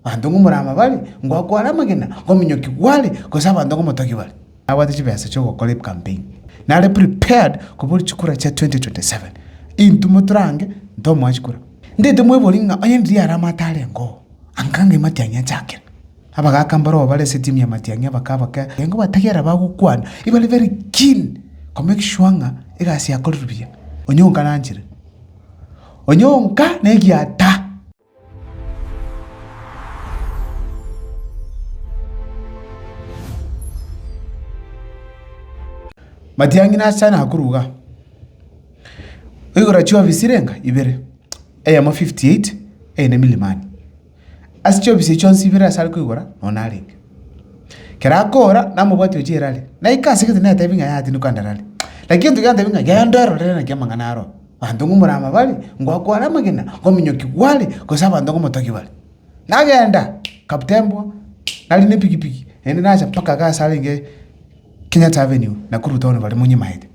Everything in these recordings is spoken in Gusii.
Abanto ng'o moraba bare, ngo akoare amagena, ngo omonyoki gware, gose abanto ng'o motogi bare? Nabwate chibesa chi'ogokora ecampaign. Nare prepared kobori chikura chia 2027. Intwe motorange, ntomoa chikura. Ndete mwebori ng'a onye ndiria are amato are ngoo, anga ng'ai matiang'i achakera. Abagaka mbarobwo bare ase etimu ya matiang'i abakaba kera engo batagera bagokwana, ebare very keen ko make sure ng'a egasi yakorerwe buya. Onyonka nanchire. Onyonka negiataa. Matiang'i nacha nakoruga. Oigora chiofisi renga ibere, eyemo fifty eight, eyende milimani. Ase chiofisi echio chionsi ibere asare koigora noo narenge. Ekero akoora namobwati oche erari, naika asegete natebie ng'a yatinuka ndarare. Lakini egento giantebia ng'a genda ororere naki amang'ana aro. abanto ng'omorama bare, ngoakware amagena, ngominyoki gware, gose abanto ng'omotogi bare. Nagenda, kapten mbwa, nari nepigipigi, naende nacha mpaka iga ase arenge Kenyatta Avenue, Nakuru town bare monyimaete.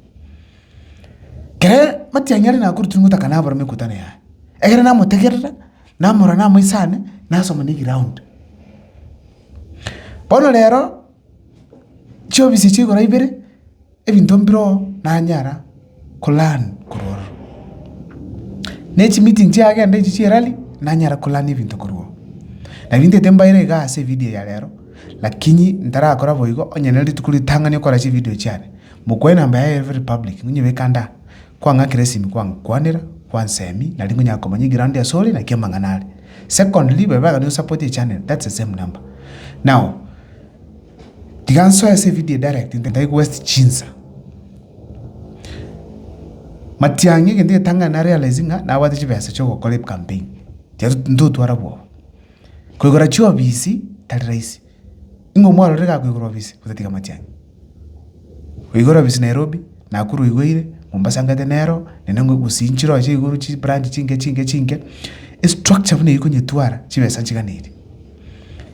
Kere matiang'i are Nakuru tiri ngotaka nabora mekutano yaye. Egere namotegerera, namorora namoisane, nasoma na egeround. Bono rero, chiofisi echi igoro ibere. Ebinto mbiro nanyara kolearn korwa ororo? Ne chimeeting chiagenda echi chia rally nanyara kolearn ebinto korwa oo? Nari ntete mbaire igaa ase evidio ya rero, lakini ntarakora boigo, onye ne rituko ritang'ani okora chividio chiane, mokwae enamba yaye ya every public, ngonyebeke ande aa, kwang'akera esimi kwangokwanera, kwansemia, nari nkonyara komanya eground ase ore, naki amang'ana are. Secondly, babe bagani osupport echannel, that's the same number. Now. Tiga nsoe ase evideo edirect ntaigwe waste chinsa. Matiang'i egento egetang'ani na realize ng'a nabwate chibesa chia ogokora ecampaign. Tiga ntotwara bwoba. Koigora chiofisi tari rahisi. Nigo omwarorire iga akoigora ofisi gose tiga matiang'i. Oigora ofisi Nairobi, Nakuru oigoire, Mombasa ngete nero, nende gusii nchiroche igoro chibranch chinke chinke chinke. Estructure buna eyio konyetwara chibesa nchiganeirie.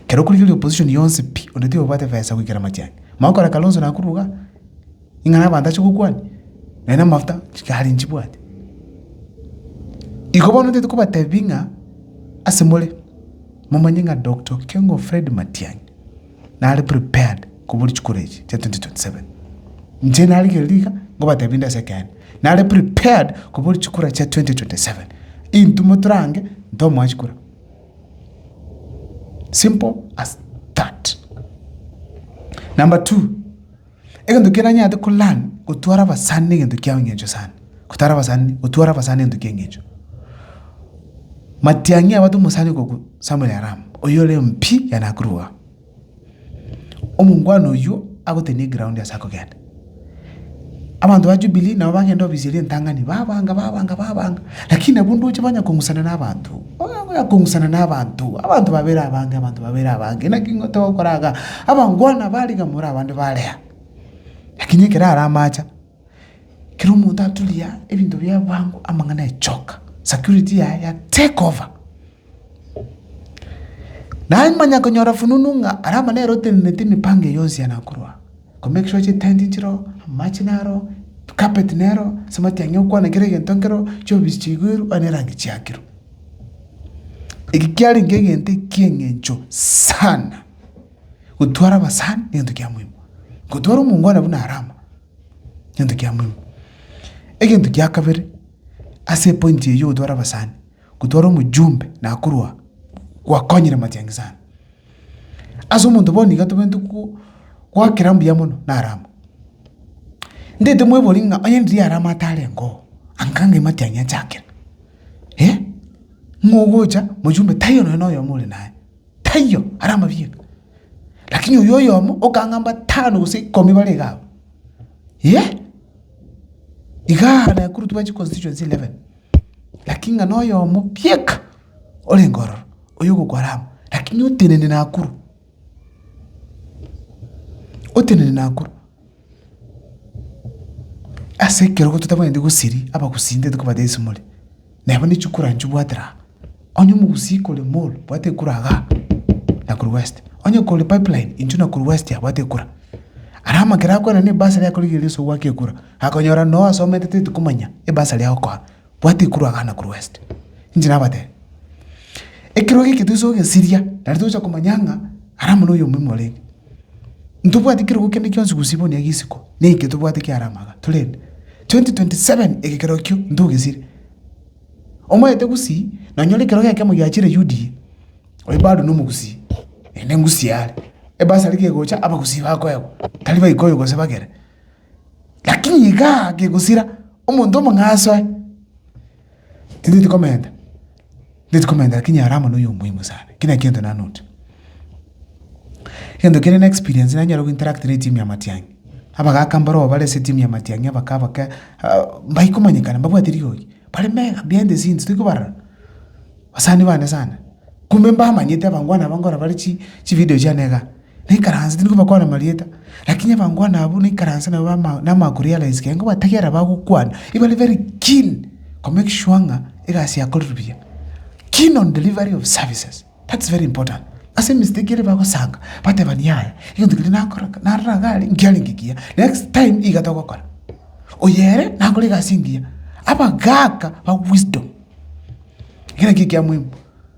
Ekero okorigereria opposition yonsi pi, onde tiga obwate efesa goikera amachani. Mao okore Kalonzo nakorwa igaa, ing'ana abanto ache gokwania, naye na amafuta chikari nchibwate. Igo bono ntete kobatebi ng'a ase more, momanye ng'a Doctor Okengo Fred Matiang'i, nare prepared koboria chikura echi chia 2027. Inche narigereria iga, nkobatebi inde ase ekeene, nare prepared koboria chikura chia 2027. Intwe motorange, ntomoa chikura. Simple as that. Number two, egento keranyarete ko learn gotwara abasani negento kia eng'encho sana. Gotara abasani, gotwara abasani egento kia eng'encho. Matiang'i abato omosani okoku Samuel Aram, oyore MP ya Nakuru iga. Omongwana oyio agotema eground ase akogenda. Abanto ba Jubilee nabo bagenda ofisi eria entang'ani babanga babanga babanga lakini nabo ndoche banya kong'usana na abanto buna buna kong'usana na abanto, abanto babere abange abanto babere abange naki ng'o togokora iga. Abangwana aba aria iga more abande bare aa. Lakini ekero are amache kera omonto aturia ebinto biaye bwango amang'ana echoka security yaye ya take over. Namanya konyora fununu ng'a aria amo nere oteneneti emipango eye yonsi yane akorwa. Ko make sure chitenti nchiroo, amache naro, carpet nero, ase amatiang'i okwana kera egento nkero, chiofisi chiigwirwe onye na erangi chiakirwe. Eki kiarenge egento eki'eng'encho sana, gotwara abasani negento kia moino, gotwara omongwana buna are amo, gento kia moino. Egento kia kabere, ase epointi eye ya ogotwara abasani. Gotwara omojumbe na korwa gwakonyire matiangi sana. Ase omonto bono iga tobwenerete goakera mbuya mono naro amo. Ntaete mwebori ng'a onye riria are amato arengeo, anga ng'ai matiangi achakera? Eh! Ng'o ogocha mojumbe taiyo nonye na oyomo ore naye, taiyo are amabieka. Lakini oyo oyomo okang'a mbatano gose ikomi bare iga abwo. Eh! Igaa naye korwa twachi constituency eleven. Lakini ng'a noyomo bieka orenge ororo, oyogokora amo, lakini otenene nakuru, otenene nakuru. Ase ekerogo totabwenereti gosiria abagusii ntaito kobwata egesimore, neba ne chikura inche obwate aa, onye omogusii kore mall bwate ekura igaa nakuru west, onye kore pipeline inche nakuru west abwate ekura. Ara amakere akorera na ebasari akorigereria oso ogwaka ekura. Akonyora noyo asomete teti komanya ebasari agokoa bwati ekuru agana korwa west inche nabatebia ekerogo eke toise kogesiria naende togocha komanya ng'a ara mono oyo omoimo orenge ntobwati kerogo kende kionsi gusii bono egesiko neke tobwate kiare amaga torende 2027 eke kerogo kio ntogesiire omoete gusii nonyore ekerogo ekemo giachire UDA oyo bado nomogusii naende ngusii are ebasari gegocha abagusii bakoegwa tari baikoyo gose bagere. Lakini iga gegosira omonto omong'aasi oye, intwe tikomenta, intwe tikomenta lakini are amo noyo omuhimu sana. Ekio nakio egento nanote. Egento kende na experience nanyare gointeract na etimu ya matiang'i. Abagaka mbaroo bare ase etimu ya matiang'i abake abake mbai komanyekana mbabwate rigogi, bare mega behind the scenes tari kobarora, basani bane sana. Kumbe mbamanyete abangwana aba nkorobarechi chividio chiane igaa. naikaranse tindi kobakwana amarieta, lakini abangwana abwo naikaranse nabo bama namakoro ya rahisi kegeni, nkobategerera bagokwana, ebare very keen ko make sure ng'a egasi yakorerwe buya, keen on delivery of services, that's very important. Ase emistake ere bagosanga, batebani yaya, egento keria nakora ka narora iga are nkiarenge ekiya, next time iga togokora, oyere nakore egasi engiya, abagaaka ba wisdom, ekero ekio ekia muhimu.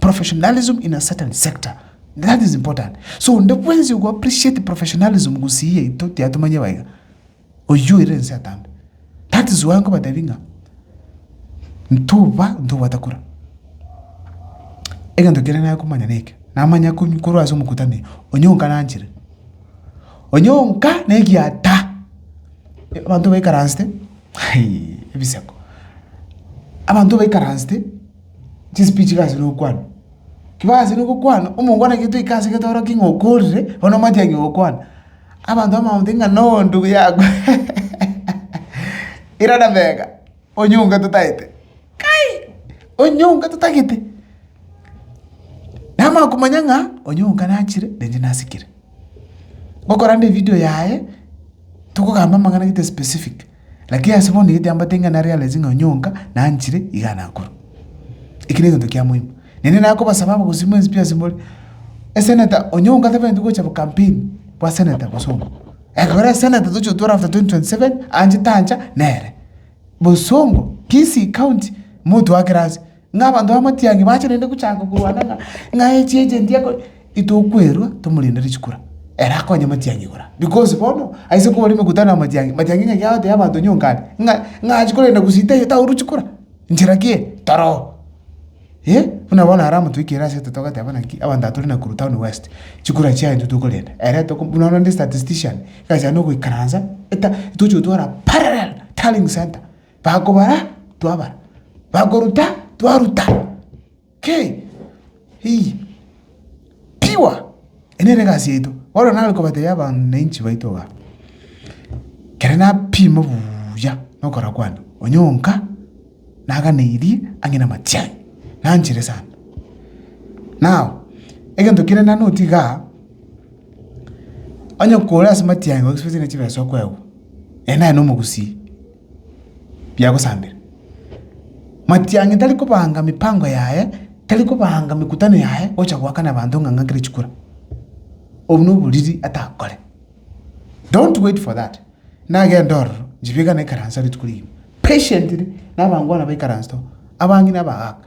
professionalism in a certain sector that is important so onde bwensi ogo appreciate professionalism gusii yaito tiatomanye baiga oyio ere ense atambe that is why nkobatebi ng'a ntoba ntobwate kura egento kere nare komanya neke namanya kony korwa ase omokutano onye onka nanchire onye onka na egiata abanto baikaransete ebiseko abanto baikaransete. Chisipi chiga ase nokwana. Kiba ase nokokwana, omongo bono ekero toika ase getoroki ng'a okorire, bono omanyete ng'a ogokwana. Abanto abamama bagotebi ng'a no ndugu yako irana mega, onyonga totaete, kai! Onyonga totagete. Namanya komanya ng'a onyonga nachire na inche nasikire. Gokorande evideo yaye, tokogamba amang'ana gete specific. Lakini ase bono nigo tiambate ng'a nare Alex ng'a onyonka nanchire iga nakure. Eki negento kia moima. Nende nakobasaba abagosii mwensi pi asemore. Eseneta onyonka tabaeti gocha bo campaign bwa seneta bosongo. Ekero eseneta tochia gotwora after 2027 anche tancha nere. Bosongo, Kisii county motwakere ase. Ng'a abanto b'amatiangi bache naende gochaka korwana ng'a, ng'a echi eche endi akore, itokwerwa tomorende richikura, ere akonye amatiangi igoro aya. Because bono aise kore mekutano y'amatiangi, matiangi ngaki agotebia abanto nyonka are, ng'a, ng'a achi korenda gusii taiyo tauru chikura, nchera ki eye? Toroo. Eh, buna bono are omonto oikire asete togateba naki, abanto aba tore Nakuru Town West, chikura chiaye intwe tokorenda, ere toko buna bono onde statistician, ngachande ogoikaransa, eta, tochi gotwara parallel tallying centre. Bakobara, twabara. Bakoruta, twaruta. Kei! Hii! Pure! Eye nere egasi yaito. Bono nare kobatebi abananchi baito igaa, ekero napima buuya na okora kwane, onye onka, naganeirie ang'e na amatiari, nanchire sana. Now, egento kere na note igaa, onye kore ase amatiari gose gose ne chibesa okoegwa, ere naye na omogusii. biagosambera. Matiang'i tari kobanga mipango yaye, tari kobanga mekutano yaye gocha goakana abanto ng'a ng'akere chikura. Obwo na oboriri atakore. Don't wait for that, nagende ororo nchibegane ekaranse rituko rigima. Patiently, nabangwana baikaransete oo, abang'ina abagaaka.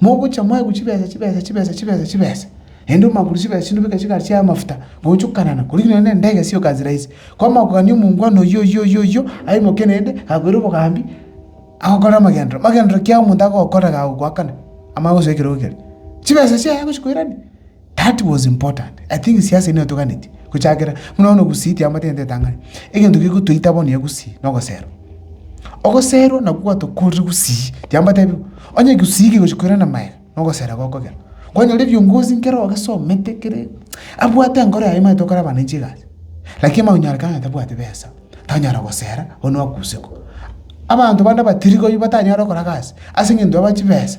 Mogocha mwaigwe chibesa, chibesa, chibesa, chibesa, chibesa, naende omwakure chibesa chinde obeke chigari chiaye amafuta, ngoonchokanana, korende nonye nere ndaiga sioka nse rahisi. Kwamanya kogania omongwana oyio oyio oyio oyio, aimoke naende, akoire obogambi, agokore amagenderero. Amagenderero ki ayo omonto agokora gagokoakana, amanye gosoa ekerogo keria? Chibesa chiaye agochia koirania. That was important. I think siasa eye netoganeti gochakera buna bono gusii tiamate egento etang'ani. Egento gegotoita bono ya gusii na ogoserwa. Ogoserwa nabwo gwatokorire gusii tiambatebiwu. Onye gusii kegochi koira na maega na ogosera gokogera. Kwanyora ebiongozi nkere ogesomete kere abwate enkoro yaye omanyete okore abananchi egasi. Lakini omanye konyorekana ng'a tabwati besa, tanyara gosera bono nwakusiko. Abanto bande abatirigoi batanyare gokora gasi ase eng'encho aba chibesa.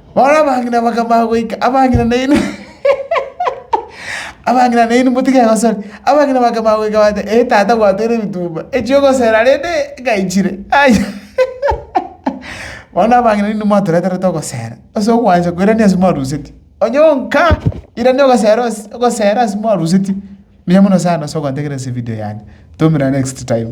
Bono abang'ina bakamanya goika, abang'ina nainwe abang'ina nainwe motige gosore. Abang'ina bakamanya goika bagateba, ee tata gwatoeire ebitumba, echia ogosera rende ngaichire, aya. Bono abang'ina nainwe mwatoreterete ogosera, ase ogwancha koirania ase mwaruseti, onye onka irania ogosera ase ogosera ase mwaruseti, mbuya mono sana ase ogwantegerera ase evidio yane. Toomera next time.